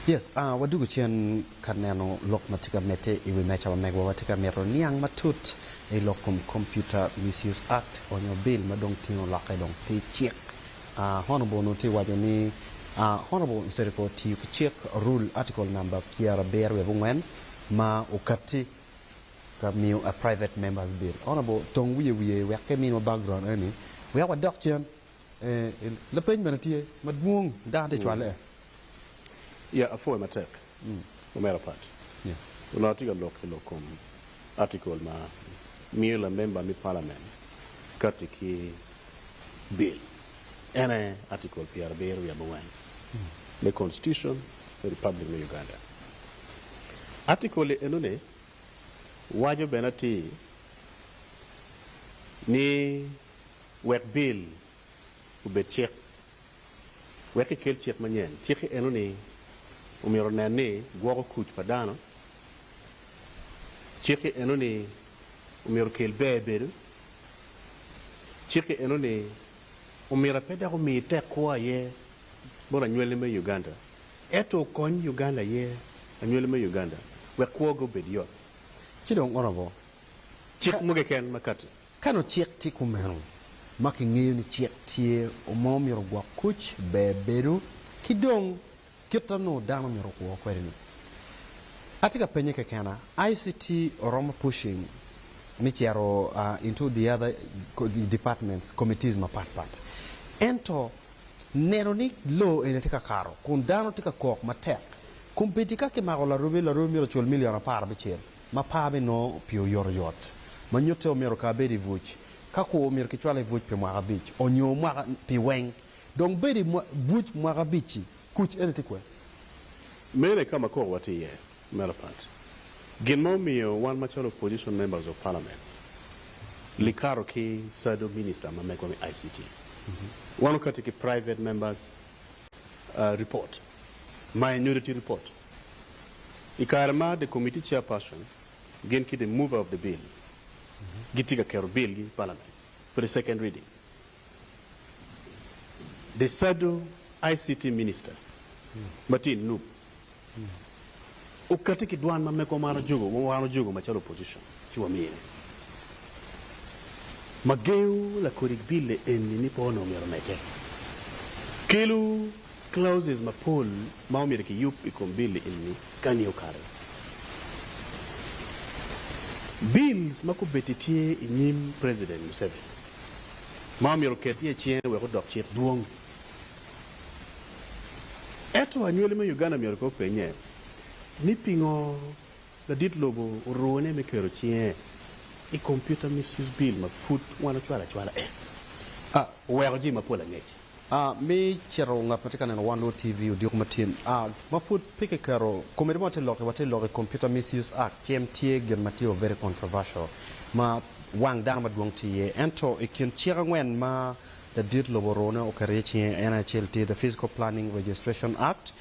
Yes, ah, wadwogo cen ka neno lok ma tye ka medde i wi mecawa mego. Watye ka mito niang matut i lok kom Computer Misuse Act, onyo bil ma dong tingo lokke dong tye cik Honorable onongo tye waco ni Honorable Nsereko otiyo ki cik Rule Article number pyerabiro wiye abongwen ma okatti ka miyo a private members bill. Honorable tong wiye wiye wek ka imiwa background eni wek wadok cen lapeny bene tye madwong dano tye cwale. Yeah apwoe matek. Omera Pat onongo tye ka lok ki lok kom atikol ma miyo lamemba me palamen kati ki bil, en aye atikol pyerabiro wiye abongwen me Konstitucon me Republic me Uganda. Atikol-li enoni waco bene atir ni wek bil obed cik, wek ekel cik manyen. Cik-ki eno-ni omyero onen ni gwoko kuc pa dano. Cik-ki eno-ni omyero okel ber bedo. Cik-ki eno-ni omyero pe dok omi tek kwo aye bot anywalli me Uganda, ento okony Uganda aye anywalli me Uganda wek kwogi obed yot. Ci dong oromo cik mo keken makati. Ka nongo cik tye kumeno, ma kingeyo ni cik tye ma omyero ogwok kuc, ber bedo ki dong kit ma nongo dano myero okwo kwede-ni. Atye ka pennye kekena, ICT oromo pushing me cito into the other departments, committees mapat pat, ento neno ni loo eni tye ka kato kun dano tye ka kok matek, kombeddi ka kimako Larubi, Larubi myero ocul million apar abicel. ma par me nongo pi oyotoyot ma nyutte omyero ka abed i buc. Ka kur omyero kicwala i buc pi mwaka abic onyo mwaka pi weng dong bedo i buc mwaka abic-ci kuc ene tye kwer. Mene ka ma kor wa tye iye mere pat. Gin ma omiyo wan macalo opposition members of parliament likato ki sado minister ma mego me ICT wan okati ki private members report ma i nyuto tye report. I kare ma the committee chairperson gin ki the mover of the bill gitye ka keto bill gi i parliament for the second reading, the sado ICT minister ma tye i nup okati ki dwan ma meko man ojogo wa wan ojogo macalo opposition ci wamine ma gengo lakodik bill-le eni ni pe onongo myero omedde. Kelu Clauses mapol ma omyero kiyub i kom bill enni kani okato. Bills ma kubeddi tye i nyim President Museveni ma omyero oket iye cinge wek odok cik dwong. Eto anywali me Uganda myero ko openye ni pingo ladit lobo orune me keto cinge i Computer Misuse Bill ma pud wan ocwalo acwala en, a oweko jii mapol angec. A. Mi cito ngat ma tye ka neno wan nwo TV odiko ma tin. A. Ma pud pe ki keto komedi ma watye lok i watye lok i Computer Misuse Act cem tye gin ma tye o very controversial ma wang dano ma dwong tye iye ento i kin cik angwen ma ladit lobo orone oketo iye cinge en aye acel tye the Physical Planning Registration Act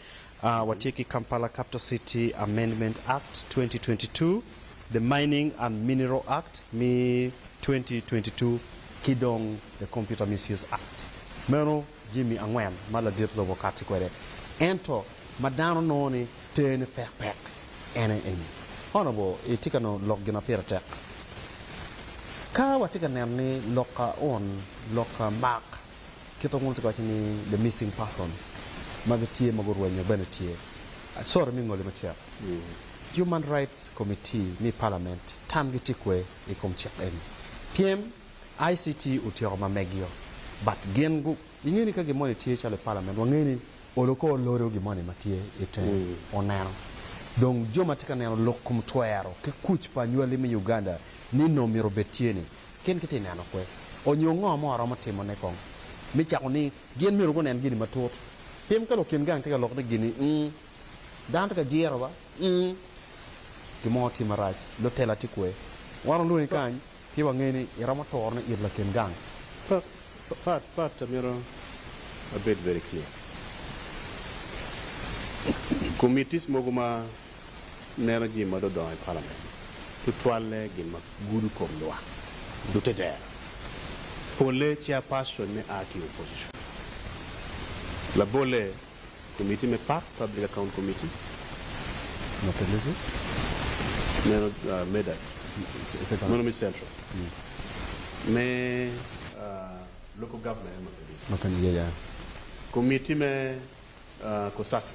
Watye ki Kampala Capital City Amendment Act, 2022, the Mining and Mineral Act me 2022 ki dong the Computer Misuse Act. Meno jami angwen ma ladit lobo kati kwede ento ma dano nongo ni tene pek pek en aye eni. Honourable itye ka neno lok gin ma pire tek? Ka watye ka neno ni loka on, loka mark. kit ma Wunongo waco ni the missing persons ma gitye ma gurwenyo bene tye. Sorry me ngoli macek. Human Rights Committee me i Palament tamgi tye kwe i kom cik eni. Pyem, ICT otyeko ma megio but gin gu inge ni ka gin moni tye calo i Palament wange ni olo kor lori o gin moni ma tye i tenge oneno. Dong jo ma tye ka neno lok kom twero ki kuc pa anywali me Uganda nino myero obed tye ni. Gin gitye ka neno kwe, onyo ngo mo aromo timone kong? Me cako ni, gin myero gunen gini matut. Pi mukene okin gang tye ka lok ni gini ung, dano tye ka jiro ba ung, gin mo tye marac, lutela tye kwe. Wan olwongi kany pien wangeyo ni iromo turo ni it lakin gang. Pat pat amito abed very clear. Committees mogo ma neno jami ma dong odongo i palament, tutwalle gin ma gudo kom lwak dutte dero, polle chairpersonne a ki opposition, labolle komiti me pak, public account committee, meno meda meno me central, me local government, komiti me Cosase,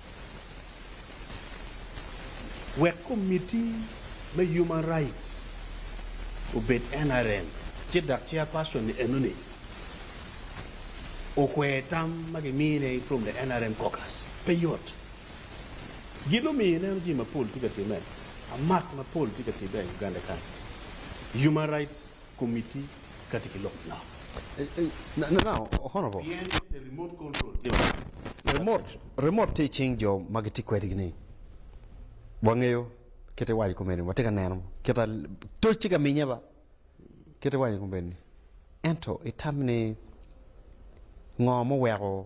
wek Komitti me Human Rights obed NRM, ci dok Chairperson-ni enoni okwero tam ma gimine from the NRM caucus. Pe yot. Gin omiyo ineno jami mapol tye ka timme, amak mapol tye ka tibbe i Uganda kany. Human Rights Komiti kadi ki lok nok. Remot tye i cing jo ma gitye kwedigi ni wangeyo kit iwaco komeni watye ka neno kit toc tye ka minye ba kit iwaco komeni ento itam ni ngo moweko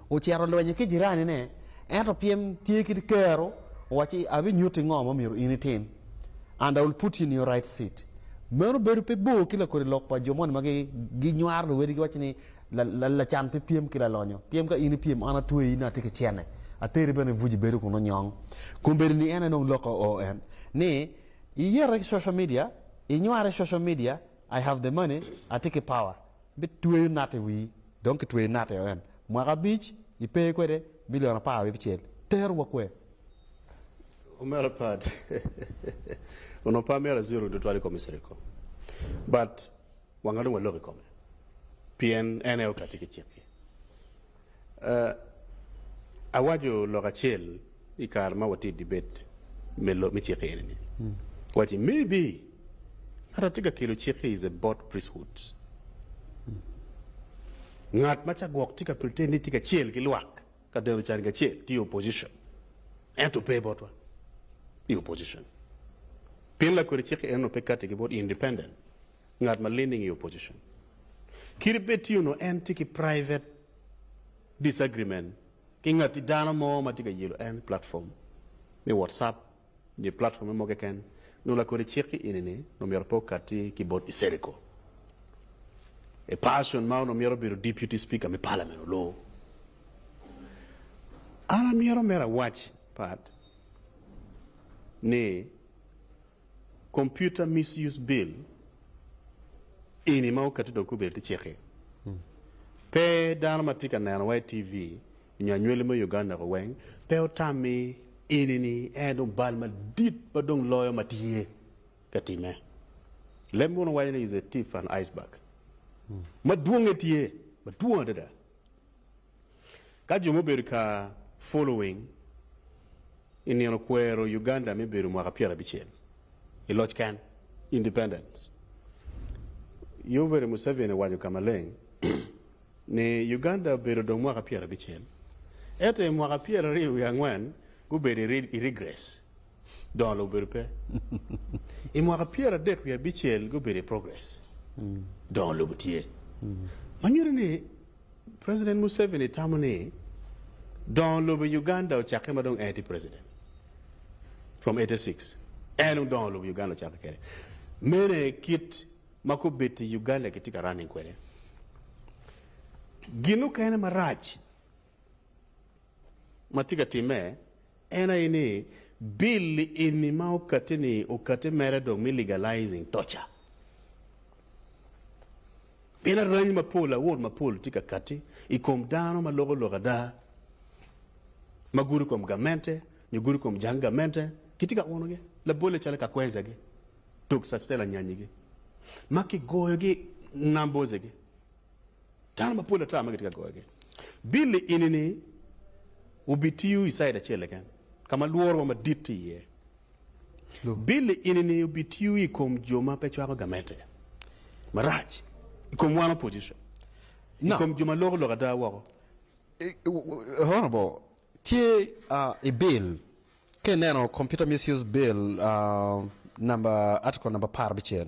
Ocito lwenyo ki jiranine, ento pyem tye ki kero. Owacci, Abinyutti ngo ma myero in itim, and I will put you in your right seat. Meno bedo pe bor ki lakodi lok pa jo moni ma ginywaro luwedi giwacci ni, Lacan pe pyem ki lalonyo. Pyem ka in ipyem, an atweyi ni atye ki cene, ateri bene ibuc ibedo kun onyong. Kombeddi ni en aye dong lok oo en ni, Iyete ki social media, inyware ki social media, I have the money, atye ki power. Bitweyo nat i wii. Dong kitweyo nat i en mwaka abic, ipe kwede milion apar wiye abicel. Tero wa kwer. Omera Pat, onongo pe amyero aziro tutwal i kom Misiri kong, but wanga dong walok i kome, pien en aye okatti ki cik-ki. Awaco lok acel I kare ma watye i dibed me cik eni ni, wawaco ni, Maybe ngat atye ka kelo cik ki is a bought priesthood. Ngat ma ca gwok tye ka pretend ni tye ka cel ki lwak ka deno can kacel tye opposition ento pe botwa i opposition pien lakwede cik enno pe kati ki bot independent ngat ma leaning i opposition. Kit bed tye onongo en tye ki private disagreement ki ngati dano mo ma tye ka yelo en i platform me WhatsApp nyo i platforme mo keken, nongo lakodi cik ki ini ni nongo myero pe okati ki bot Iseriko. A person ma onongo myero obedo Deputy Speaker me Parliament olor. An amyero mere awac pat ni. Computer Misuse Bill eni ma okati dong kubed ki cik-ki, pe dano ma tye ka neno wa i TV nyo anywali me Uganda-ku weng pe otam ni eni-ni en aye dong bal madit ma dong loyo ma tye ka timme. Leb mono waco ni is a tip an iceberg. Madwonge tye, madwong adada. Ka jo mubedo ka following i nino kwero Uganda me bedo mwaka pyera bicel i loc ken, independence, Yoweri Museveni owaco ka maleng ni Uganda obedo dong mwaka pyera bicel, eto i mwaka pyera aryo wiye angwen gubedo i regress. Dongo lobo obedo pe. I mwaka pyera adek wiye abicel gubedo i progress, dongo lobo tye. Ma nyuto ni president Museveni tamo ni dongo lobo i Uganda ocakke ma dong en aye tye president from eighty six. En dong dongo lobo i Uganda ocakke kede. Mene kit ma kubit i Uganda kitye ka running kwede. Gin mukene marac Ma tye ka timme en aye ni bill eni ma okati ni okati mere dong me legalizing torture. Pien arany mapol awot mapol tye ka kati i kom dano ma loko lok ada ma gudo kom gamente nyo gudo kom jang gamente kitye ka uno gi labolle calo Kakwenza gi, Dok Sactela Nyanyi gi ma kigoyo gi Nambooze gi Dano mapol ata ma gitye ka goyogi. Billy ini-ni obitiyo i caid acel keken ka ma lworowa madit tye iye. Billy ini-ni obitiyo i kom jo ma pe cwako gamente marac, i kom wan opposition, i kom jo ma loko lok ada woko. Honourable, tye i bill, ka ineno Computer Misuse Bill number, article number apar abicel,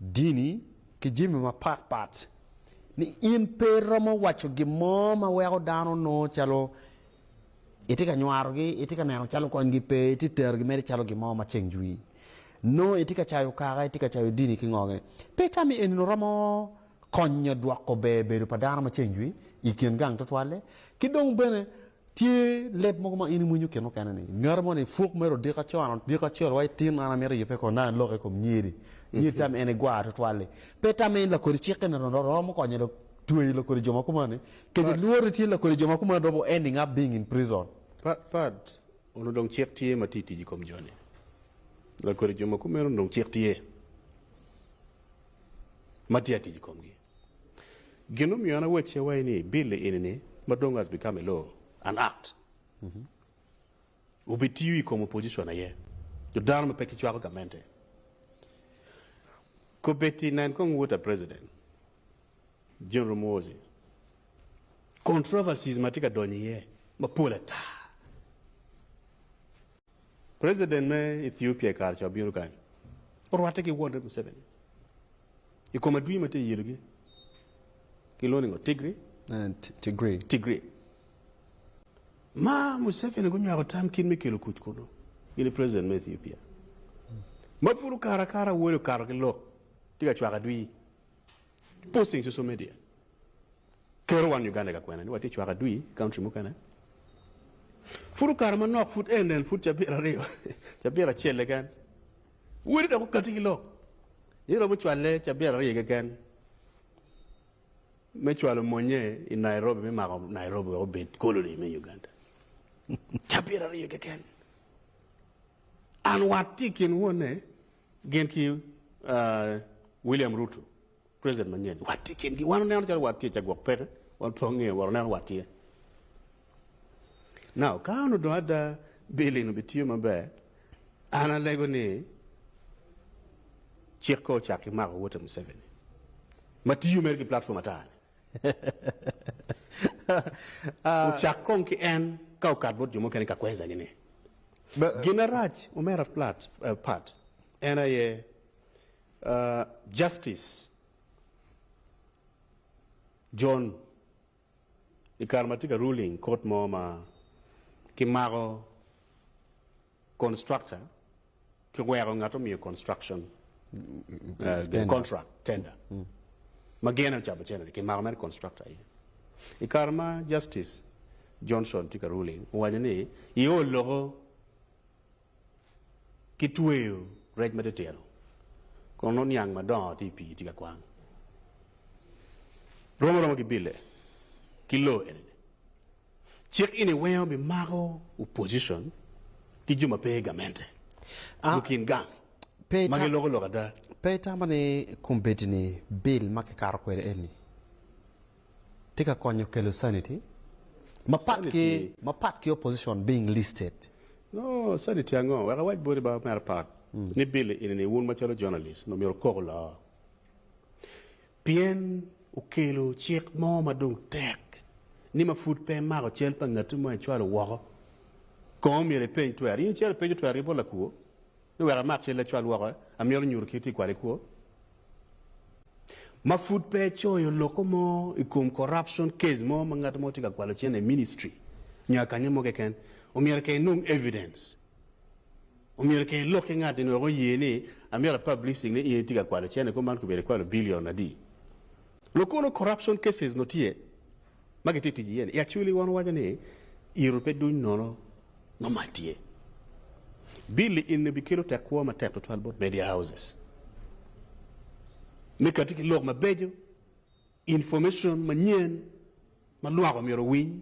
dini, ki jami mapat pat, ni in pe iromo waco gin mo ma weko dano nongo calo itye ka nywarogi, itye ka neno calo konygi pe, itye ka terogi mere calo gin mo ma ceng jwi. Nongo itye ka cayo kaka, itye ka cayo dini ki ngoge. Pe tammi eni-nu romo konyo dwoko ber bedo pa dano ma ceng jwi i kin gang tutwalle? Ki dong bene, Tye leb mogo ma in imwinyo kin mukene ni ngati mo ni puk mere odiko aco an odiko acel wa itin an amito yubbe kong nai lok i kom nyiri nyiri tam en igwar tutwal ni pe tamme in lakodi cik eni ro ro romo konyo lok tweyo lakodi jo ma kumani kec Pat. ilwori tye lakodi jo ma kumani robo ending up being in prison. Pat Pat onongo dong cik tye ma tye tic i kom jo ni lakodi jo ma kumeno dong cik tye ma tye atic i komgi. Gin mumiyo an awac ce wai ni billi ini ni ma dong has become a law, an act, obi tiyo ikom opposition aye nyo dano ma pe ki cwako gamente. Kobeti nen kong water president General Muhoozi, controversies ma tye ka donyo iye mapol ata. President me Ethiopia i kare ca obino kany, orwatte ki wonne Museveni i kom adwi ma tye iyelogi, gilwongo ni ngo? Tigri? Tigri. Tigri. Ma Museveni gunywako tam kit me kelo kuc kunu, in i President me Ethiopia ma pud okato akata, wode okato ki lok, tye ka cwako adwi. Posting social media kero wan Uganda i kakwena ni watye cwaka adwi i country mukene. Pud okato manok pud en en pud cabit aryo cabit acel keken wele dok okati ki lok ni romo cwalle cabit aryo keken me cwalo monye i Nairobi me mako Nairobi wek obed colony me Uganda. Cabit aryo keken. An watye i kin wonne Gin ki William Ruto president manyen wat tye kingi wan oneno calo wat tye ca gwok peke wan pe wangeyo wa oneno wat tye now kan odong ada bill eni bitiyo maber an alego ni cik ko ocak ki mako wote Museveni matiyo mere ki platform atar ni ocak kong ki en ka okat bot jo mukene ka kweza gine. Gin arac omera plat pat en aye Justice John i kare ma tye ka ruling court mo ma ki mako constructor ki weko ngat omiyo construction contract tender ma gin aye ocabo cene ni kimako mere constructor aye i kare ma justice Johnson tye ka ruling owaco ni iol loko ki tweyo rec ma titino kun nongo niang madongo tye i pii tye ka kwang romo aroma ki bille ki law eni ni. Cik eni weko bimako opposition ki jo ma pe i gamente i kin gang ma giloko lok ada. Pe itamo ni kombeddi ni bill ma kikato kwede eni tye ka konyo kelo sanity mapat ki opposition being listed? No sanity ango? Wek awac boti ba Omera Pat ni bill eni ni wun macalo journalist omyero okok loo. Pien wukelo cik mo ma dong tek ni ma pud pe imako cal pa ngatti ma icwalo woko. Kong myero ipeny twerri. In icito ipenyo twerri bot lakwo ni wek amak calli acwal woko, amyero nyuto kit tic kwade kwo? Ma pud pe icoyo loko mo i kom corruption case mo ma ngat mo tye ka kwalo cente i ministry nyo akanyo mo keken, omyero kong inong evidence. Omyero kong ilok ki ngat-ni wek oye ni amyero apublishing ni in itye ka kwalo cene kong man kobedo ikwalo billion adi. Lokono corruption cases nongo tye ma gitye ka tic iye ni i actually wan wawaco ni iro pe duny nono ma mac tye. Bill-li eni bikelo tekwo matek tutwal bot media houses me kati ki lok mabeco. Information manyen ma lwak omyero owiny,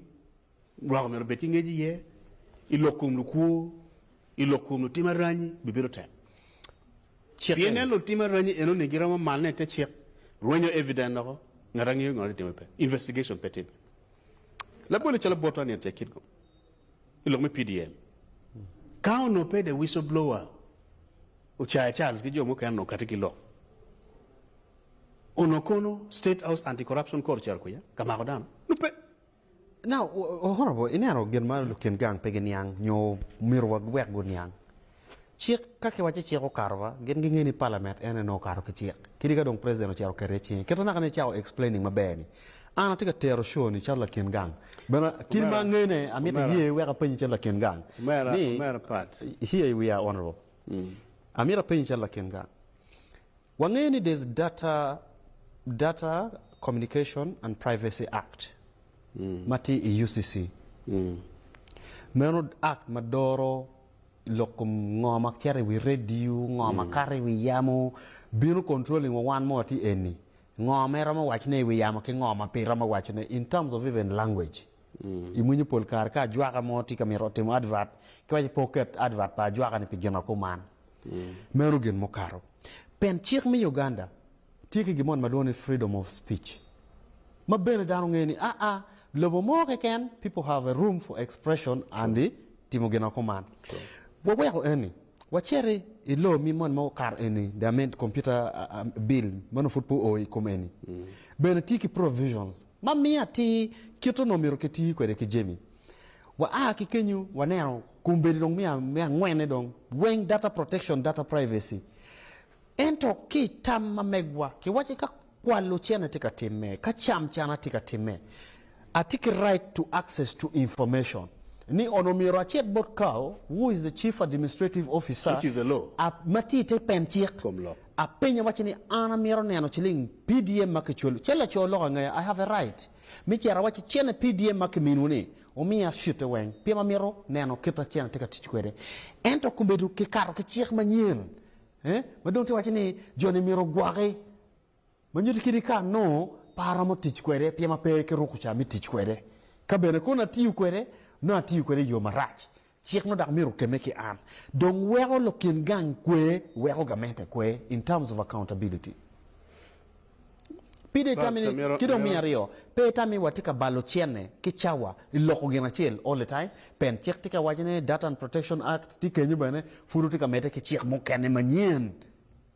lwak omyero obed ki ngec iye i lok kom lukwo, i lok kom lutim aranyi bibedo tek. Cik Pien eni. nen lutim aranyi enoni giromo manne i te cik, rwenyo evident loko, ngat angeyo ngat atye timo pe, investigation pe timme. Labole calo bot onion tye kit go i lok me PDM. Ka onongo pe the whistleblower, Ocaya Charles ki jo mukene onongo kati ki lok. Onongo kono State House Anti Corruption Court cito kwiya ka mako dano? Pe. Now, Honourable, ineno gin ma lukin gang pe giniang nyo omyero wek guniang. Cik, ka kiwacci cik okato ba, gin gingeyo ni Parliament en aye nongo okato ki cik. Kadi ka dong President ocito oketo iye cinge. Kit anaka-ni icako explaining maber-ni, an atye ka tero show ni calo lakin gang. Bene, kit ma angene, amito iye wek apenyi calo lakin gang ni, here we are, Honourable, amito apenyi calo lakin gang, Wangeyo ni there's data Data Communication and Privacy Act ma tye i UCC. Meno act ma doro lok kom ngo ma cito i wi radio, ngo ma kato i wi yamo, bino controlling wa wan ma watye eni, ngo ma iromo waco ne i wi yamo ki ngo ma pe iromo waco ne in terms of even language. I mwinyo pol kare ka ajwaka mo tye ka mito timo advert ki waco pe oket advert pa ajwaka ni pi gina kuman. Meno gin mukato pien cik me Uganda tye ki gin moni ma lwongo ni freedom of speech ma bene dano ngeyo ni aa lobo mo keken people have a room for expression and timo gin ma kuman. Wa weko eni waciti i law mi moni ma okato eni the amend computer bill ma nongo pud pe oo i kom eni bene tye ki provisions ma miyo atir kit onongo myero ki tir kwede ki jami wa aa ki kenyu waneno Kombeddi dong me angwene dong weng data protection, data privacy. Ento ki i tam ma megwa kiwacci ka kwal ocene tye ka timme, ka cam cana tye ka timme, atye ki right to access to information. Ni on omyero acit bot Kao who is the chief administrative officer a ma tye i te pen cik apenye awacci ni an amyero neno ciling PDM ma kicwalo, ce laco lok angaya I have a right me cito awacci cene PDM ma kiminiwu ni Wumiya cute weng pien amito neno kit ma cente tye ka tic kwede. Ento komedo ki kato ki cik manyen ma dong tye ka waco ni jo-ni myero ogwoki, ma nyuto kit ka anongo pe aromo tic kwede pien ma pe kiruko ca me tic kwede. Ka bene kono atiyo kwede, nongo atiyo kwede i yo marac. Cik ma dok myero okemme ki an dong weko lok kin gang kwe weko gamente kwe in terms of accountability. Pide itamini ki dong miyo aryo pe itami wa tye ka balo cene ki cawa iloko gin acel all the time pen cik tye ka waco ne data and protection act tye kenyo bene pud wutye ka mede ki cik mukene manyen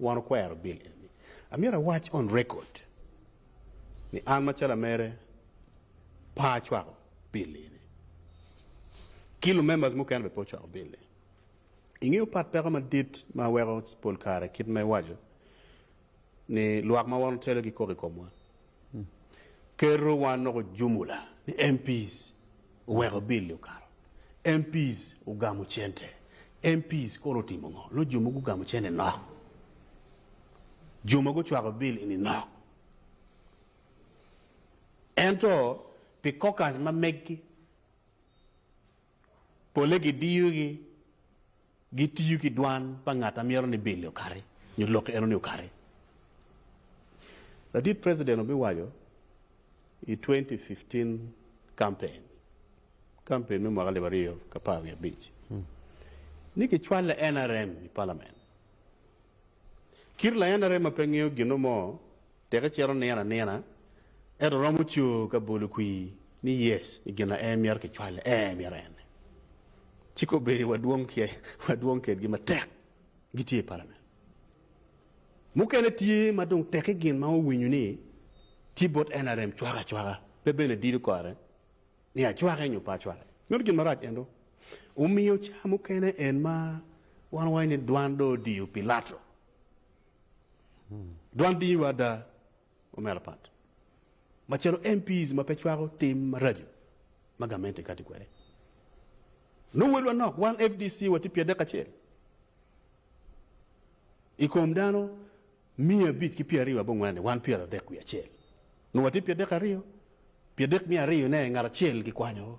Wan okwero bil eni. Amyero awac on record ni an macalo amere pe acwako bil eni. Ki lu members mukene bene pe ocwako bil ni. Ingeyo pat peko madit ma weko pol kare kit ma iwaco ni lwak ma wan otelo gi koko i komwa. Ker-ru wan noko jumula ni MPs Oweko bill-li okato. MPs ogamo cente. MPs kono otimo ngo? Nongo jo mogo gugamo cente nok. Jo ma gucwako bill eni nok. Ento pi caucus ma meggi, polle gidiyogi. Gitiyo ki dwan pa ngat ma mito ni bil-li okati nyo lok eno-ni okati. Ladit preciden obiwaco i twenty fifteen campaign, campaign me mwaka alip aryo k'apar wiye abic, ni kicwalo nrm i palament. Kit la nrm ma pe ngeyo gino mo Teke cito nino anina, ento romo coo ka bolo kwir ni yes i gin aye mito ki cwale ee mito ene. Ci ka obedo wa dwong ki wa dwong kedgi matek gi tye i palament. Mukene tye ma dong teke gin ma owinyo ni tye bot nrm cwaka acwaka pe bene dido kore ni acwake nyo pe acwake. Meno gin marac ento omiyo ca mukene en ma wan wawaco ni dwan dong odiyo pilato Dwan dinyiwa ada omera apat macalo MPs ma pe cwako tim maraco ma gamente kati kwede. Nongo welwa nok wan FDC watye pyadek acel i kom dano miya abic ki pyeraryo abongwen-ni wan pyeradek wiye acel nongo watye pyadek aryo, pyadek miya aryo-ne ngat acel gikwanyowa.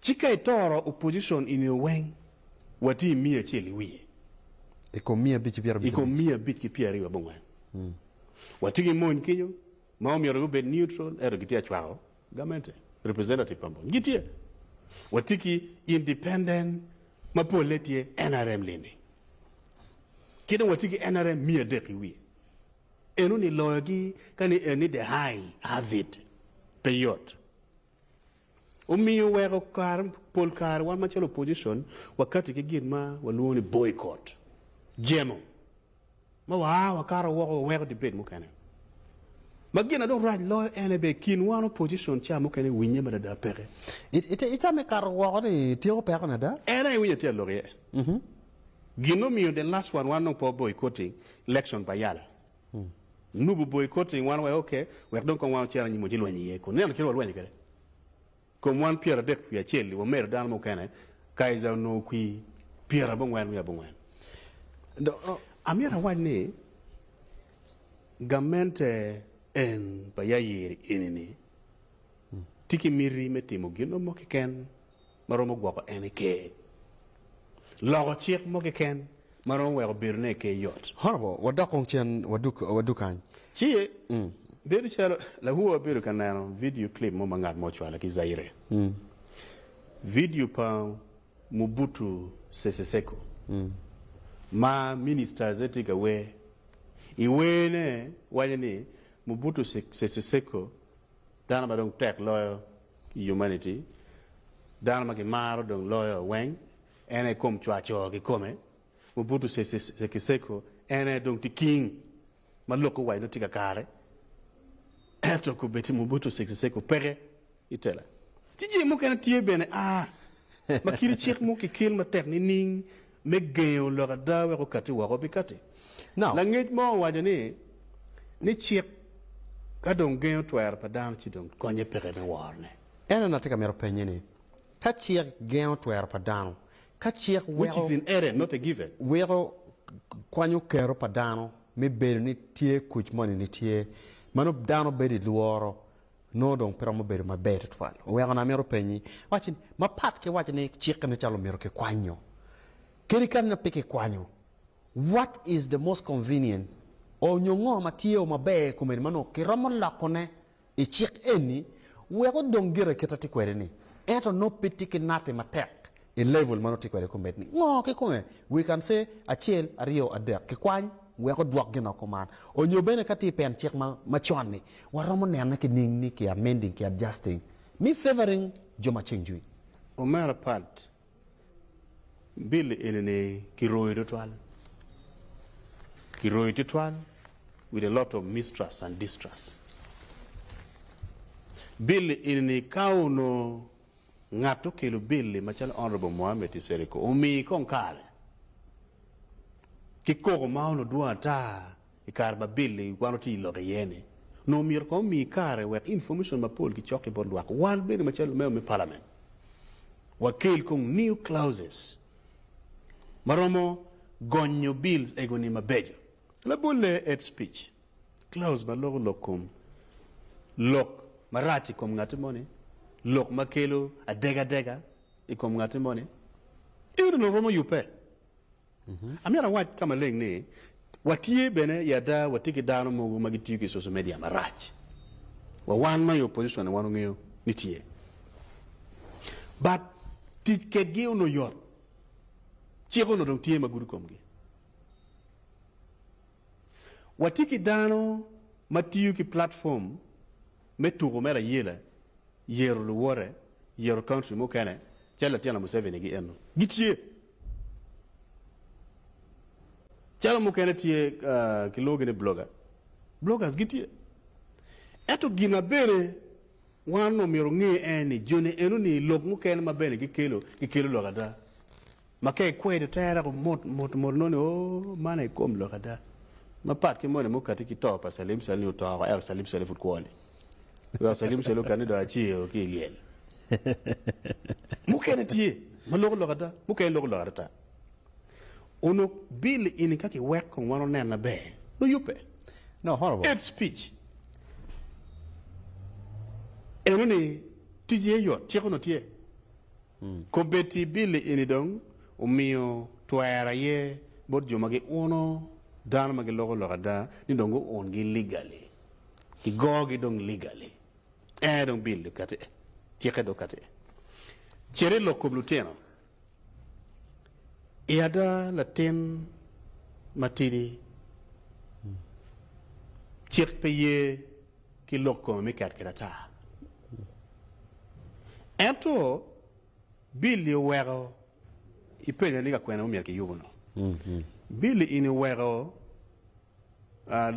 Ci ka itoro opposition i nio weng, wati i miya acel i wiye. I kom miya abic ki pyera abic ki abic. I kom miya abic ki pyera aryo abongwen. Wati ki mony kinyo ma omyero gubed neutral eto gitye acwako gamente, representative pa mony gitye. Wati ki independent ma pole tye nrm lindi. Ki dong wati ki nrm miya adek i wiye. Eno ni loyo gi ka ni eni the high have it. Pe yot. Omiyo weko kare, pol kare wan macalo opposition wakati ki gin ma walwongo ni boycott, jemo ma wa a wakato woko waweko debate mukene. Ma gin na dong rac loyo en aye bene kin wan opposition ca mukene winye madada peke. I, i, i time kato woko ni tyeko pekone ada. En aye winyo tye alok iye. Gin ma omiyo the last one wan dong po boycotting election pa yala. Nubo boi koti i ngwan wek oke, wek dong kong wan wucer anyim wa ci lweny iye kun nino kit ma walwenyo kwede. Kom wan pyera adek wiye acel-li wamedo dano mukene, Kaiser onongo kwi pyera abongwen wiye abongwen. Amyero awac ni gamente en pa Yair eni-ni tye ki miti me timo gin mo keken. ma romo gwoko en i Ker, loko cik mo keken ma romo weko bedone i Ker yot. Horrible! Wadok kong cen wadug kany. Ci, bedo calo lawowa obedo ka neno vidio clip mo ma ngat mo ocwalo ki Zaire, vidio pa Mobutu Sese Seko, ma Minista Azé tye ka wer. I werne, waco ni, Mobutu Sese Seko, Dano ma dong tek loyo i Humanity, dano ma kimaro dong loyo weng, en aye kom cwaco kikome, Mobutu Sese Seko en aye dong tye king ma lok owaco ni tye kakare, ento kobedi Mobutu Sese Seko peke i tela. Ci jing mukene tye bene a ma kit cik mo kikil matek nining me gengo lok ada wek okatti woko pi katti. Langec mo owaco ni, ni cik ka dong gengo twero pa dano ci dong konye peke me worone. Ento an atye ka mito pennye ni, ka cik gengo twero pa dano, ka cik weko weko kwanyo kero pa dano me bedo ni tye kuc moni nitye, mano dano bedo i lworo Nongo dong pe romo bedo maber tutwal. Oweko na amito penyi, wacci ni, mapat ki wacci ni cikke me calo omyero kikwanyo kadi kadi na pe kikwanyo, what is the most convenient or nyo ngo ma tye o maber i kome ni ma nongo kiromo loko ne i cik eni wek odong gire kit ati kwede ni? Ento nongo pe tye ki nati matek I level ma nongo tye kwede kumed ni ngo kikome we can say acel aryo adek kikwany wek odwok gin o kuman onyo bene ka tye pen cik ma macon ni waromo nene ki ning ni ki amending ki adjusting me favoring jo ma ceng jwi. Omera Pat, bill eni ni ki royo tutwal, ki royo tutwal with a lot of mistrust and distrust. Bill eni ni ka onongo Ngat okelo bil-li macalo Honourable Mohamed Iseriko omi kong kare ki koko ma onongo dwong ata i kare ma bil-li wan watye i lok iye ni, onongo omyero kong omi kare wek information mapol gicok ki bot lwak. Wan bene macalo lumeo me Parliament wakel kong new clauses ma romo gonyo bills ego ni mabeco. Labolle Ed Speech. Klaus ma loko lok kom lok marac i kom ngatti moni, lok ma kelo adegadega i kom ngatti moni, en onongo romo yubbe. Amyero awac ka maleng ni, watye bene i ada, watye ki dano mogo ma gitiyo ki social media marac. Wa wan ma i opposition-ni wan ongeyo ni tye. But tic kedgi onongo yot, cik onongo dong tye ma gudo komgi. Watye ki dano ma tiyo ki platform me tuko me Raila yero luwote, yero country mukene calo latyena Museveni gi eno gitye. Calo mukene tye kilwongogi ni blogger, bloggers gitye. Ento gin ma bene wan omyero onge en ni joni eno ni lok mukene ma bene gikelo, gikelo lok ada. Ma ka ikwedo tere ko mot mot mot nongo ni, Oo, man aye kom lok ada. Mapat ki moni mukati ki to pa Salim Saleh ni oto woko ento Salim Saleh pud kwo ni. Wek Salim Saleh okat ni dong aceo ki i lyel. Mukene tye ma loko lok ada, mukene loko lok atata. Onongo bill eni ka kiweko kong wan onen maber, nongo yubbe. No, horrible. Hate speech eno ni ticce aye yot, cik onongo tye. Kobbe ti Billy eni dong omiyo twero aye bot jo ma giuno dano ma giloko lok ada ni dong guun gi legally, ki goo gi dong legally. Ee dong bill dong kati ee, cikke dong kati ee. Cit ilok kob lutino. I ada latin matidi cik pe ye. ki lok kome me ket kede ata. Ento Billy oweko ipenye ni ka kwene omyero kiyubo no. Billy in iweko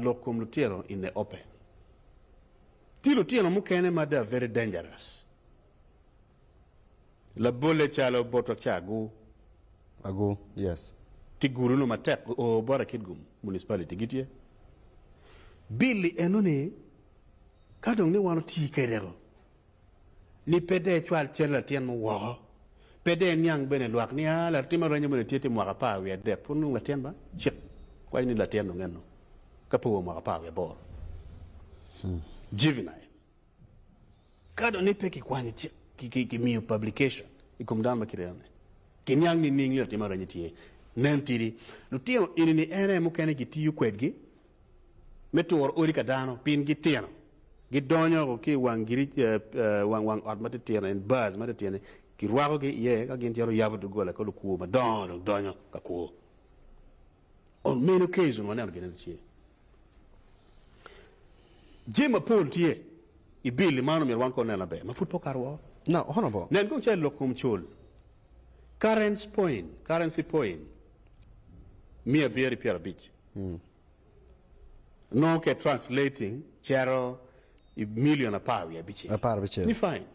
lok kom lutino in the open. Tye lutino mukene ma they are very dangerous. Labolle calo bot wek ca agu agu yes. Ti gulu no matek o bota kitgum municipality gi tye billi eno ni ka dong ni wan oti kede ko ni pe dee cwal cal latin mo woko pe dee niang bene lwak ni a latin ma renyo bene tye ti mwaka apar wiye adek pud nongo latin ba cik waco ni latin dong eno ka pe owo mwaka apar wiye aboro juvenile. Ka dong ni pe kikwanyo cik, kimiyo publication i kom dano ma kite eno-ni, kiniang nining ni latim areny-ni tye? Nen tidi, lutino eni-ni en aye mukene kitiyo kwedgi me turo odi ka dano pien gitino. Gidonyo woko ki i wang wang ot matitino, en bars matitino-ni, kirwakogi iye ka gin cito yabo doggola ka lukwo madongo dong donyo ka kwo. Ong meno Kayz onongo aneno gin ento tye jami mapol tye i bill ni man omyero wan kong onen laber ma pud pe okato woko. Now, Honourable. Nen kong calo lok kom col, currents point, currency point, miya abiyeri pyera abic. Nongo ke translating cero i million apar wiye abicel. Apar abicel. Ni fine.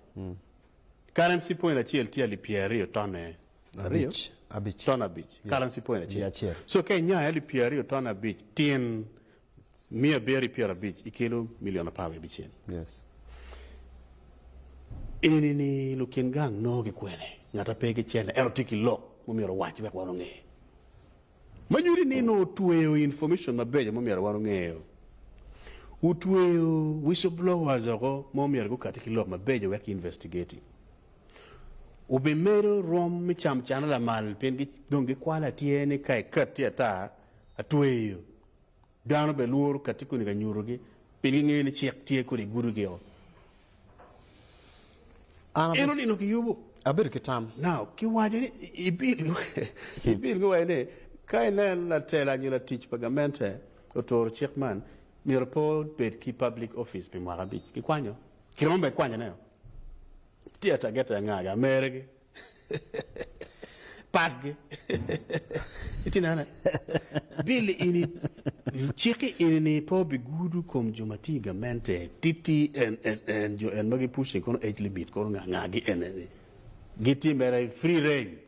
Currency point acel tye alip pyera aryo tonne aryo, abic, ton abic, currency point acel. acel. So ka inyai alip pyer aryo ton abic tyen miya abiro i pyer abic ikelo milion apar wiye bicel. Yes. Eni ni lukin gang noo ki kwene? Ngata pe ki cente ento tye ki lok mumyero owac wek wan onge. Ma nyuti ni nongo otweyo information mabeco ma myero wan ongeyo. Otweyo whistleblowers oko ma omyero gukati ki lok mabeco wek ki investigate-i. Obimedo rwom me cam cana lamal pien dong gikwalo atyer ni ka ikatti ata, atweyo. Dano bene lworo kati koni ka nyutogi, pien gingeyo ni cik tye kodi i gudi-gio. En onino ki yubu. Abedo ki tam. Nao ki waco ni ibil ki wacone ni, Ka ineno latela nyo latic pa gamente oturo cik man, myero pe obed ki public office pi mwaka abic. Kikwanyo. Kiromo bene kwanyone-o. Tye atagete anga gi ameregi. Pat gi. Iti nene. Bill ini, cik ini ni pe obi gudu kom jo ma tye i gamente titi en en en jo en ma gi pushing kono age limit kono nga nga gi en en ni gi tye mere free range.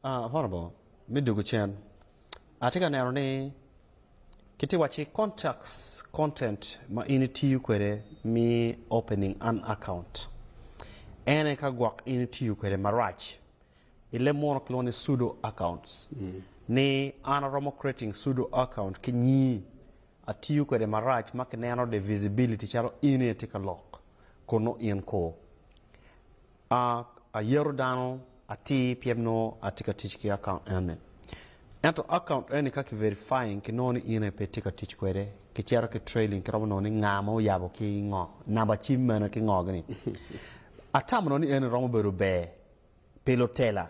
Honorable, me dwogo cen, atye ka neno ni kitye wacci contacts, content ma in itiyo kwede me opening an account. En aye ka gwok in itiyo kwede marac i leb muno kilwongo ni pseudo accounts ni an aromo creating pseudo account ki nyii atiyo kwede marac ma kineno the visibility calo in aye itye ka lok kunu in koo. A Ayero dano atir pien nongo atye ka tic ki akaunt eni. Ento akaunt eni ka ki verifying ki nongo ni in aye pe itye ka tic kwede, ki cito ki trailing ki romo nongo ni nga ma oyabo ki ngo, namba cim mene ki ngo gini. Atamo nongo ni eni romo bedo ber pi lutela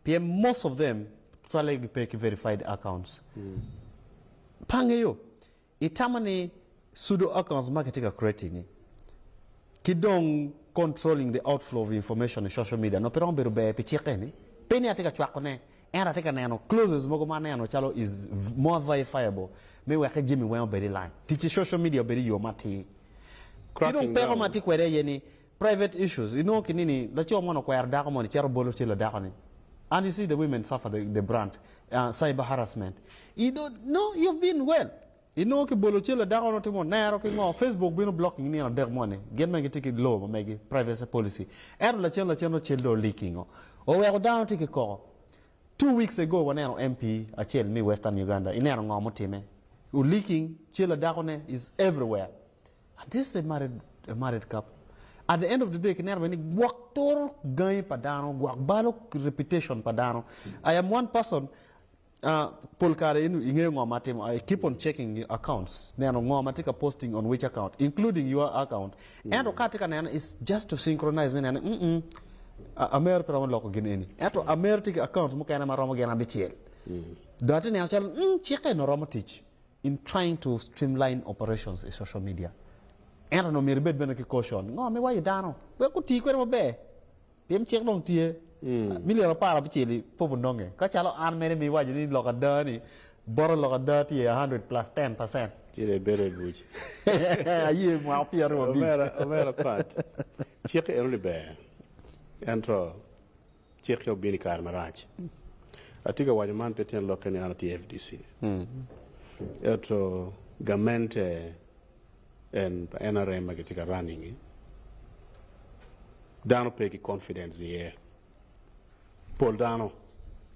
pien most of them tutwalle gi pe ki verified accounts. Pa angeyo Itamo ni pseudo-accounts ma kitye ka creating-ngi ki dong controlling the outflow of information i social media nongo pe romo bedo ber pi cik eni? Pe ni atye ka cwakone, ento atye ka neno clauses mogo ma aneno calo is more verifiable me weke jami weng obed i line. Tic ki social media obedo i yo matir. Ki dong peko ma atye kwede aye ni Private issues, inongo ki nini laco moni okwero dako moni cito bolo cal ladako ni and you see the women suffer the the brunt ahh cyber harassment you don't know you've been well inongo ki bolo cal ladako ni timo nero ki ngo Facebook bino blocking nino adek moni gin magi tye ki law ma megi privacy policy ento lacen lacen nongo cal dong o leaking o oweko dano tye ki koko two weeks ago waneno MP acel me western Uganda ineno ngo mutime o leaking cal ladako ne is everywhere And this a married a married couple at the end of the day kineno bene ni gwok turo gangi pa dano gwok balo reputation pa dano I am one person uh, pol kare in ingeyo ngo ma atimo I keep on checking your accounts neno ngo ma tye ka posting on which account including your account ento ka atye ka neno it's just to synchronize me neno ni mm mm a- amer pe romo loko gin eni ento amer tye ki accounts mukene ma romo gin abicel dong atye neno calo mm cikke eno romo tic In trying to streamline operations i social media ento onongo myero ibed bene ki caution ngo me wayo dano wek guti kwede maber pien cik dong tye milion apar abicel i pop ononge ka calo an mere ma iwaco ni lok ada ni boto lok ada tye a hundred plus ten percent Ci dong ibedo abuc. aye mwaka pyeraryo abic. Omera, omera Pat, cik eno ni ber. Ento Cik ya obino i kare marac. Atye ka waco man pe tyen lokke ni an atye FDC. Ento gamente en pa nrm ma kitye ka running-ngi, dano pe ki confidence iye. Pol dano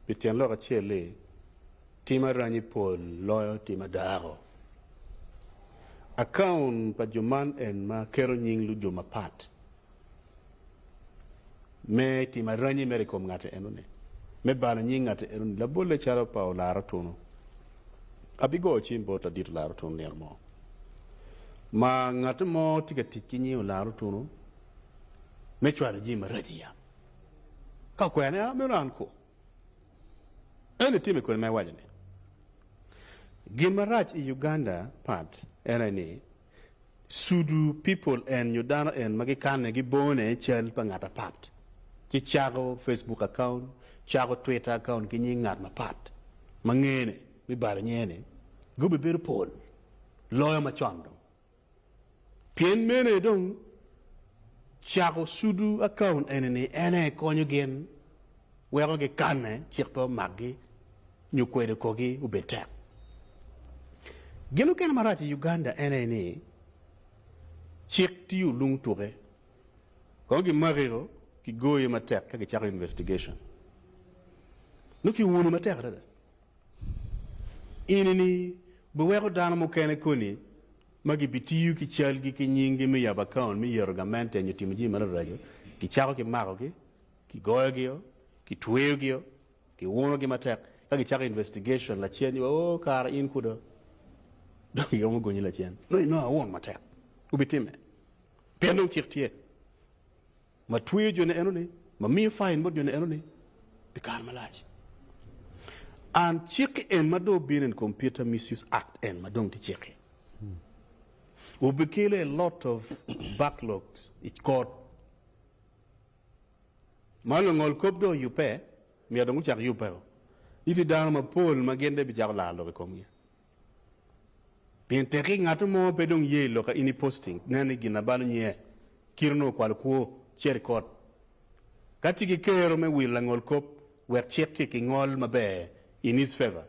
pi tyen lok acel ni tim aranyi pol loyo tim adako. Account pa jo man en ma keto nying lujo mapat Me timo aranyi mere i kom ngati enoni, me balo nying ngati enoni, labolle calo pa olar otunu, abigoyo cim bot ladit olar otunu nino mo ma ngati mo tye ka tic ki nying olar otunu me cwalo jami marac i yam. Ka okwera ni, A, meno an kwo? Ento itimo i kodi ma iwaco-ni. Gin marac i Uganda pat en aye ni, Sudu people en nyo dano en ma gikane gibone cal pa ngat apat ci cako Facebook account, cako Twitter account ki nying ngat mapat ma ngene me balo nyinge ni gubi bedo pol loyo ma con dong. Pien mene dong cako sudu account eni ni ene konyo gin weko gikane cik pe omakgi. nyo kwedo korgi obed tek. Gin mukene marac i Uganda en aye ni cik tiyo olung tuke kono gimakio kigoyo matek ka gicako investigation nongo kiwuni matek adada. Eni ni biweko dano mukene koni ma gibitiyo ki calgi ki nyinggi me yabo account me yeto gamente nyo timo jami mararaco, gicako kimakogi, kigoyogio, kitweyogio. Giwuno gi matek ka gicako investigation lacen ni oo kara in kuda dong iromo gonyi lacen nongo inongo awun matek wubitimme pien dong cik tye ma tweyo joni eno ni ma miyo fine bot joni eno ni pi kare malac and cik en ma dong obino en computer misuse act en ma dong tye cik-ki wubikelo a lot of backlogs i kot. Ma lungol kop dong oyubbe, myero dong gucak yubbeo, ni tye dano mapol ma gin bene bicako laro lok i komgi. Pien tekki ngat mo pe dong ye i lok ka in i posting nen ni gin ma balo nyiye, kit onongo kwalo kwo, ceri kot. Ka tye ki kero me wilo langol kop wek cik ki ki ngol maber in his favor,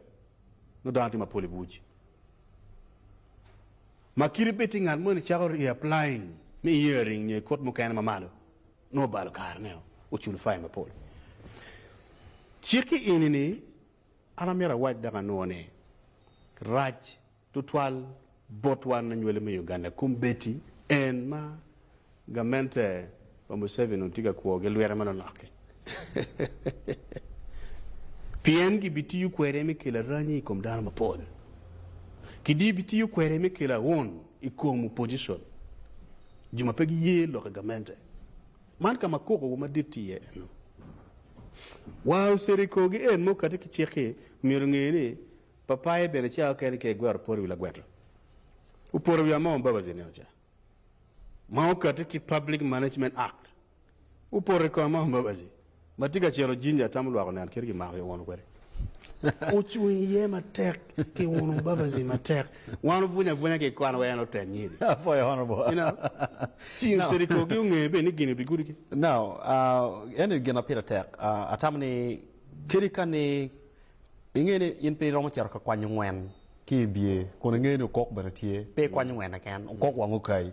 nongo dano tye mapol i buc. Ma kite bed tye ngat mo ni cako reapplying me hearing nyo i kot mukene ma malo, nongo balo kare ne oculo fai mapol. Ci ki eni ni an amyero awac dok anwo ni rac tutwal bot wan anywali me Uganda kom beti en ma gamente pa Museveni onongo tye ka kwo gi lwete ma lonok-ki pien gi bi tiyo kwede me kelo aranyi i kom dano mapol. Ki di bi tiyo kwede me kelo aun I kom opposition, jo ma pe giye lok i gamente, man ka ma kokowa madit tye iye eno. Wa oceto i korgi en ma okati ki cik-ki, myero onge ni, Papaye bene ca okene ka igwero poro i wi lagweta, oporo i wi Among Mbabazi nino ca, ma okati ki Public Management Act. Wupot i koma, Mbabazi. Ma tye ka ciro jinja atamo lwak oneno kit gimako i uno kwede. Wucung iye matek ki uno Mbabazi matek. Wan wubwunyo abwunya ki kwan wa en oten nyiri. Apwoyo Honorable. You know, ci No. City Kogi ongeyo bene ni gini bigudo ki. No, uh, eno i gin ma pire tek. Uh, atamo ni kadi ka ni inge ni in pe iromo cito ka kwanyo ngwen ki i bye kun inge ni okok bene tye, pe ikwanyo ngwen keken, okok wang okayi.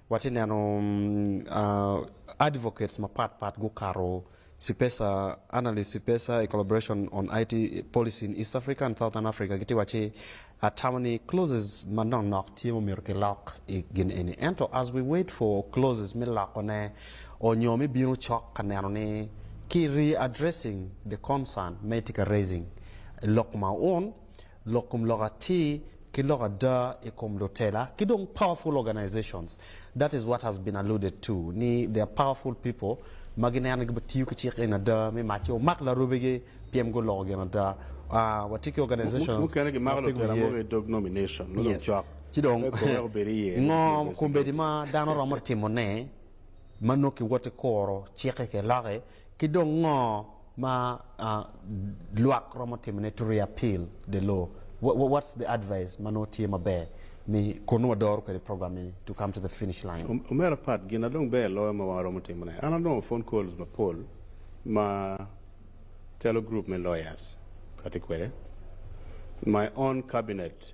Watye neno advocates mapat pat gukato Sipesa, Analyst Sipesa, a collaboration on IT policy in East Africa and Southern Africa gitye wacci atamo ni clauses ma nok nok tye ma omyero kilok i gin eni ento as we wait for clauses me loko ne or nyo me bino cok ka neno ni ki re-addressing the concern ma itye ka raising lok ma un lok kom lok atir ki lok ada i kom lutela ki dong powerful organizations that is what has been alluded to ni they are powerful people ma gineno ni gibitiyo ki cik eni ada me mac ci omak larobegi pien guloko gin ada aah watye ki organizations mukene gimako lutela mogo i dog nomination nongo dong cok ci dong pe koweko bed i iye ngo kombeddi ma dano romo timone ma nongo kiwoti kuro cik-ki ki lok-ki Ki dong ngo ma lwak romo timo ne to reappeal the law? What's the advice ma nongo tye maber me kun nongo wadoro kwede program eni to come to the finish line? Omera Pat, gin na dong ber loyo ma wan waromo timo ne, an anongo phone calls mapol ma calo group me lawyers kati kwede, my own cabinet,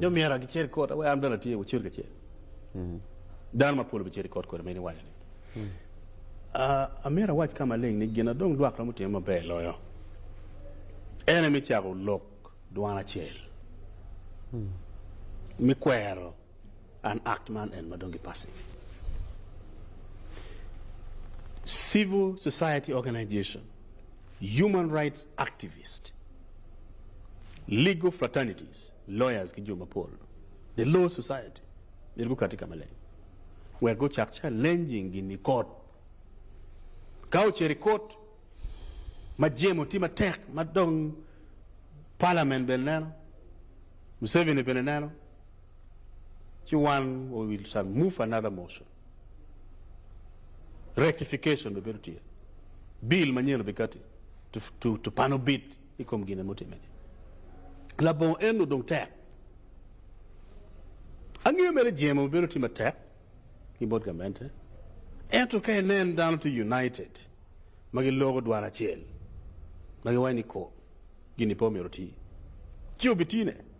Dong myero acer i kota wek an bene atye wacir kacel. Dano mapol obicer i kot kodi meno iwaco ni. Amito awac ka maleng ni gin adong lwak romo time maber loyo en aye me cako lok dwan acel me kwero An Act man en ma dong gi passe. Civil Society Organization, Human Rights Activist, Legal Fraternities, Lawyers ki jo mapol, The Law Society, myero gukati ka maleng wek gucak challenging gin i kot. Ka ocito i kot ma jemo tye matek ma dong Parliament bene neno, Museveni bene neno, ci wan we will shall move another motion rectification be bedo tye bill manyen obikati to, to, to pano bid i kom gine mutime ni labongo en odong tek angeyo mere jemo bedo tye matek ki bot gamente ento ka inen dano tye united ma giloko dwaro acel ma giwaco ni ko gini pe omyero ti ci obitine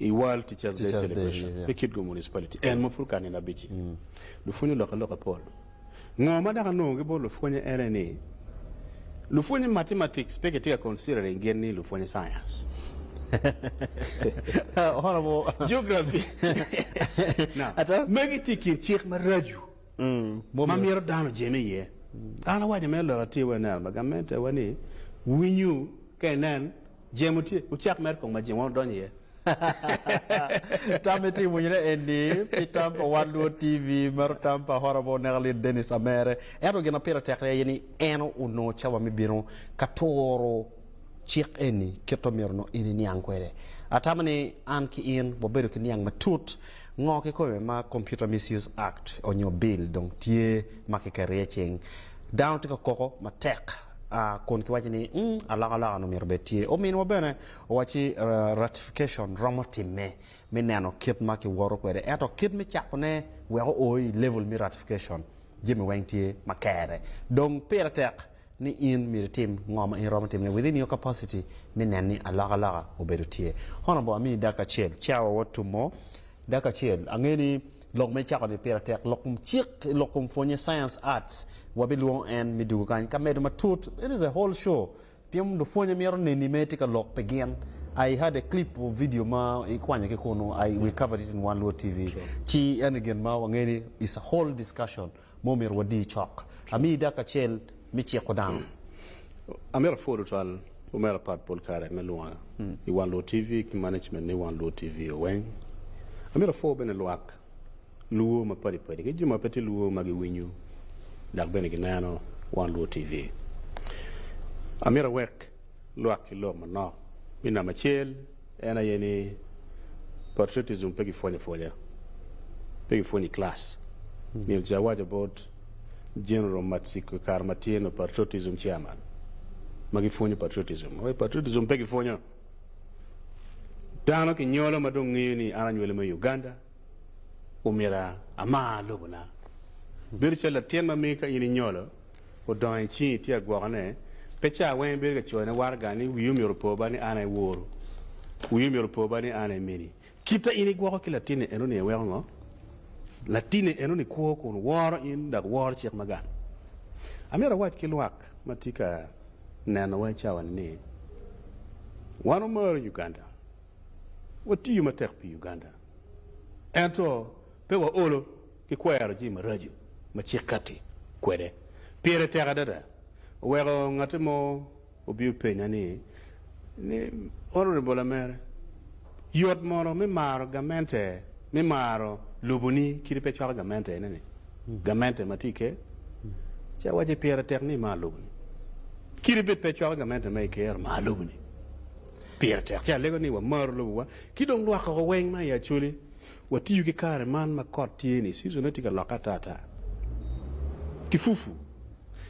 I World Teachers Day Celebration me Kitgum Municipality, en ma pud ka nino abic-ci, lupwony olokke loka pol. Ngo ma dok anongo ki bot lupwonye en aye ni, lupwonye mathematics pe kitye ka considering gin ni lupwonye science, geography, magi tye i kin cik maraco ma myero dano ojeme iye. An awaco mere lok atir wa ineno ma gamente wa ni, winyu ka inen. Jemo tye, wucak mere kong ma jemo wano donyo iye. Tam me timo winyo ne eni pi tam pa Wan Luo TV maro tam pa Horrible oneka lit Dennis Amere. Ento gin ma pire tekre aye ni en onongo cawa me bino ka turo cik eni kit ma myero onongo in iniang kwede. Atamo ni an ki in wabedo ki niang matut ngo kikome ma Computer Misuse Act onyo Bill dong tye ma kiketo iye cing. Dano tye ka koko matek. a kun kiwaco ni mm, alokaloka-nu myero obed tye. Ominwa bene owacci ratification romo timme me neno kit ma kiwoto kwede, ento kit me cakone wek oo i level me ratification, jami weng tye ma kere. Dong pire tek ni in myero itim ngo ma in romo timone within your capacity me nen ni alokaloka obedo tye. Honourable, amiyi dakika acel. Chawa Wod Tummo, dakika acel. Ange ni Lok me cako ni pire tek lok kom cik, lok kom pwonye, science, arts, wabilwongo en me dugo kany ka medo matut, it is a whole show pien lupwonye mito neni me tye ka lok pi gin, I had a clip of video ma i kwanyo ki kunu, I we covered it in one luo TV ci eni gin ma wangeyo ni is a whole discussion. Ma omyero wadi cok. Amiyi dakika acel me ciko dano. Amito apwod twatwal omera Pat pol kare me lwonga i Wan Luo TV ki management me Wan Luo TV weng. Amito apwo bene lwak Luo mapadi padi ki jo ma pe tye Luo ma giwinyo dok bene gineno Wan Luo TV. Amito awek lwak ki lok manok me namba acel en aye ni patriotism pe ki pwonyo apwonya, pe ki pwonyo i class. Myero ce awaco bot General Matsiko i kare ma tye nongo patriotism chairman ma gi pwonyo patriotism aye patriotism pe ki pwonyo. Dano ki nyolo ma dong ngeyo ni an anywele me Uganda omyero amar lobo na. Bedo calo latin ma miyo ka in inyolo odongo i cingi tye ka gwokone, pe ca weng ibedo ka coyone waraga ni, Wii omyero opo ba ni an aye woru. Wii omyero opo ba ni an aye mini. Kite in igwoko ki latinne eno-ni iweko ngo? Latinne eno-ni kwo kun woro in dok woro cik ma gang. Amyero awac ki lwak ma tye ka nenowa i cawani ni, Wan wamaro Uganda, watiyo matek pi Uganda, ento pe waolo. ki kwero jami maraco ma cik katti kwede pire tek adada, oweko ngatte mo obi openya ni, ni, Honorable Amere, yot mono me maro gamente, me maro loboni kadi pe cwako gamente eneni, gamente ma tye i ker? Ci awacci, Pire tek ni imar loboni. Kadi bed pe icwako gamente ma i ker, mar loboni. Pire tek. Ci alego ni wamaru lobowa, ki dong lwak woko weng ma i Acholi Watiyo ki kare man ma kot tye-ni, season-ne tye ka lokke atata, ki fufu.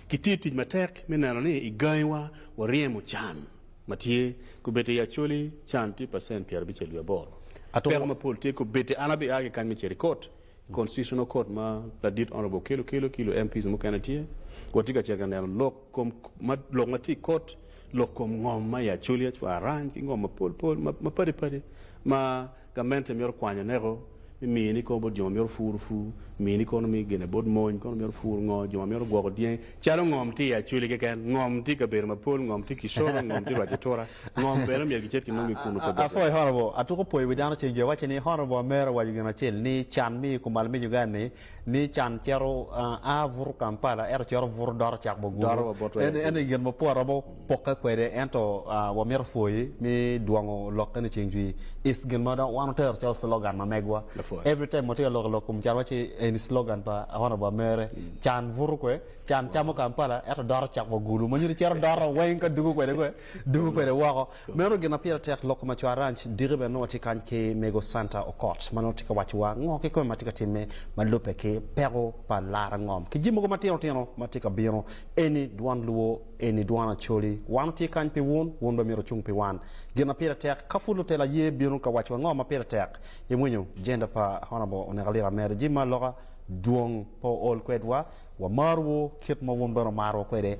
Kitye i tic matek me neno ni i gangiwa waryemo can ma tye kubedde i Acholi, can tye pacent pyer abicel wiye aboro. Peko mapol tye kubedde. An abi a ki kany me Cherry Court, i constitutional court ma ladit Honourable Okello kelo ki lu MPs mukene tye. Watye ka cito ka neno lok kom ma lok ma tye i kot, lok kom ngom ma i Acholi, Acwar, Arany ki ngom mapol pol ma padi padi ma Gamente myero okwany aneko me miyo ni kor bot jo ma myero opur opur, miyo ni kono me gene bot mony, kono myero opur ngo, jo ma myero gwoko dyangi, calo ngom tye i Acholi keken, ngom tye i kabedo mapol, ngom tye Kicoro, ngom tye rwac Otura, ngom bene myero gicit ginong gi kunu pe bot. Afoyi Honorable, atuko pwoyo wi dano ceng jo waci ni Honorable Amera owaco gin acel ni can me i kumal me Uganda ni ni can cito a buto Kampala ento cito buto doro cak Doro Boguru. wa bot En, en i gin ma pol romo pokke kwede ento ah, wamito pwoyi ni dwongo lokke ni ceng cwi is gin ma dong wan otero calo slogan ma megwa. Lapwony. Every time watye ka lok i lok kom can waci eni slogan pa one of our mere. Can buto kwe, can camo Kampala ento doro cak Boguru ma nyuto cito doro weng ka dugo kwede kwe, dugo kwede woko. Meno gin ma pire tek loko macwar Ranch diki bene nongo watye kany ki Mego Santa Okot ma nongo tye ka wacowa ngo kikome ma tye ka timme ma lubbe ki peko pa Lara Ngom ki jami mogo matino tino ma tye ka bino eni dwan luwo eni dwan Acholi wan otye kany pi wun wun bene myero wucung pi wan gin ma pire tek ka pud lutelo aye bino ka wacowa ngo ma pire tek imwinyo Gender pa Honourable Oneko Lira Meri jami ma loka dwong pe ool kwedwa Wamarwu kit ma wun bene wumarowa kwede.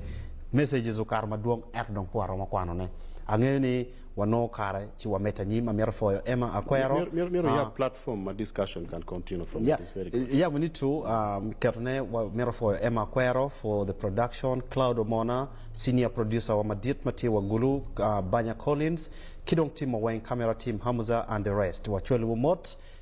Messages okato madwong ento dong pe waromo kwano ne. Angeyo ni wanongo kare ci wamedde anyim. Amito pwoyo Emma Akwero. Myero iyab platform ma discussion can continue from it is very good. Yeah we need to keto ne wamito pwoyo Emma Akwero for the production, Cloud Omona, senior producer wa madit ma tye wa Gulu, Banya Collins ki dong team wa weng, camera team Hamuza and the rest. Wacwaliwu mot.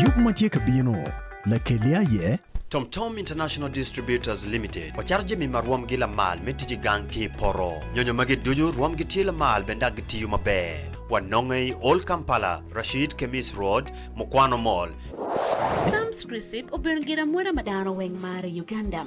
Yub ma tye ka bino, Lakelli aye? Tom Tom International Distributors Limited wacato jami ma rwomgi lamal me tic i gang ki i poto. Nyonyo magi ducu rwomgi tye lamal bene dok gitiyo maber. Wanonge i Old Kampala, Rashid Khemis Road, Mukwano Mall. Sam's Recipe obedo giramweta ma dano weng maro i Uganda.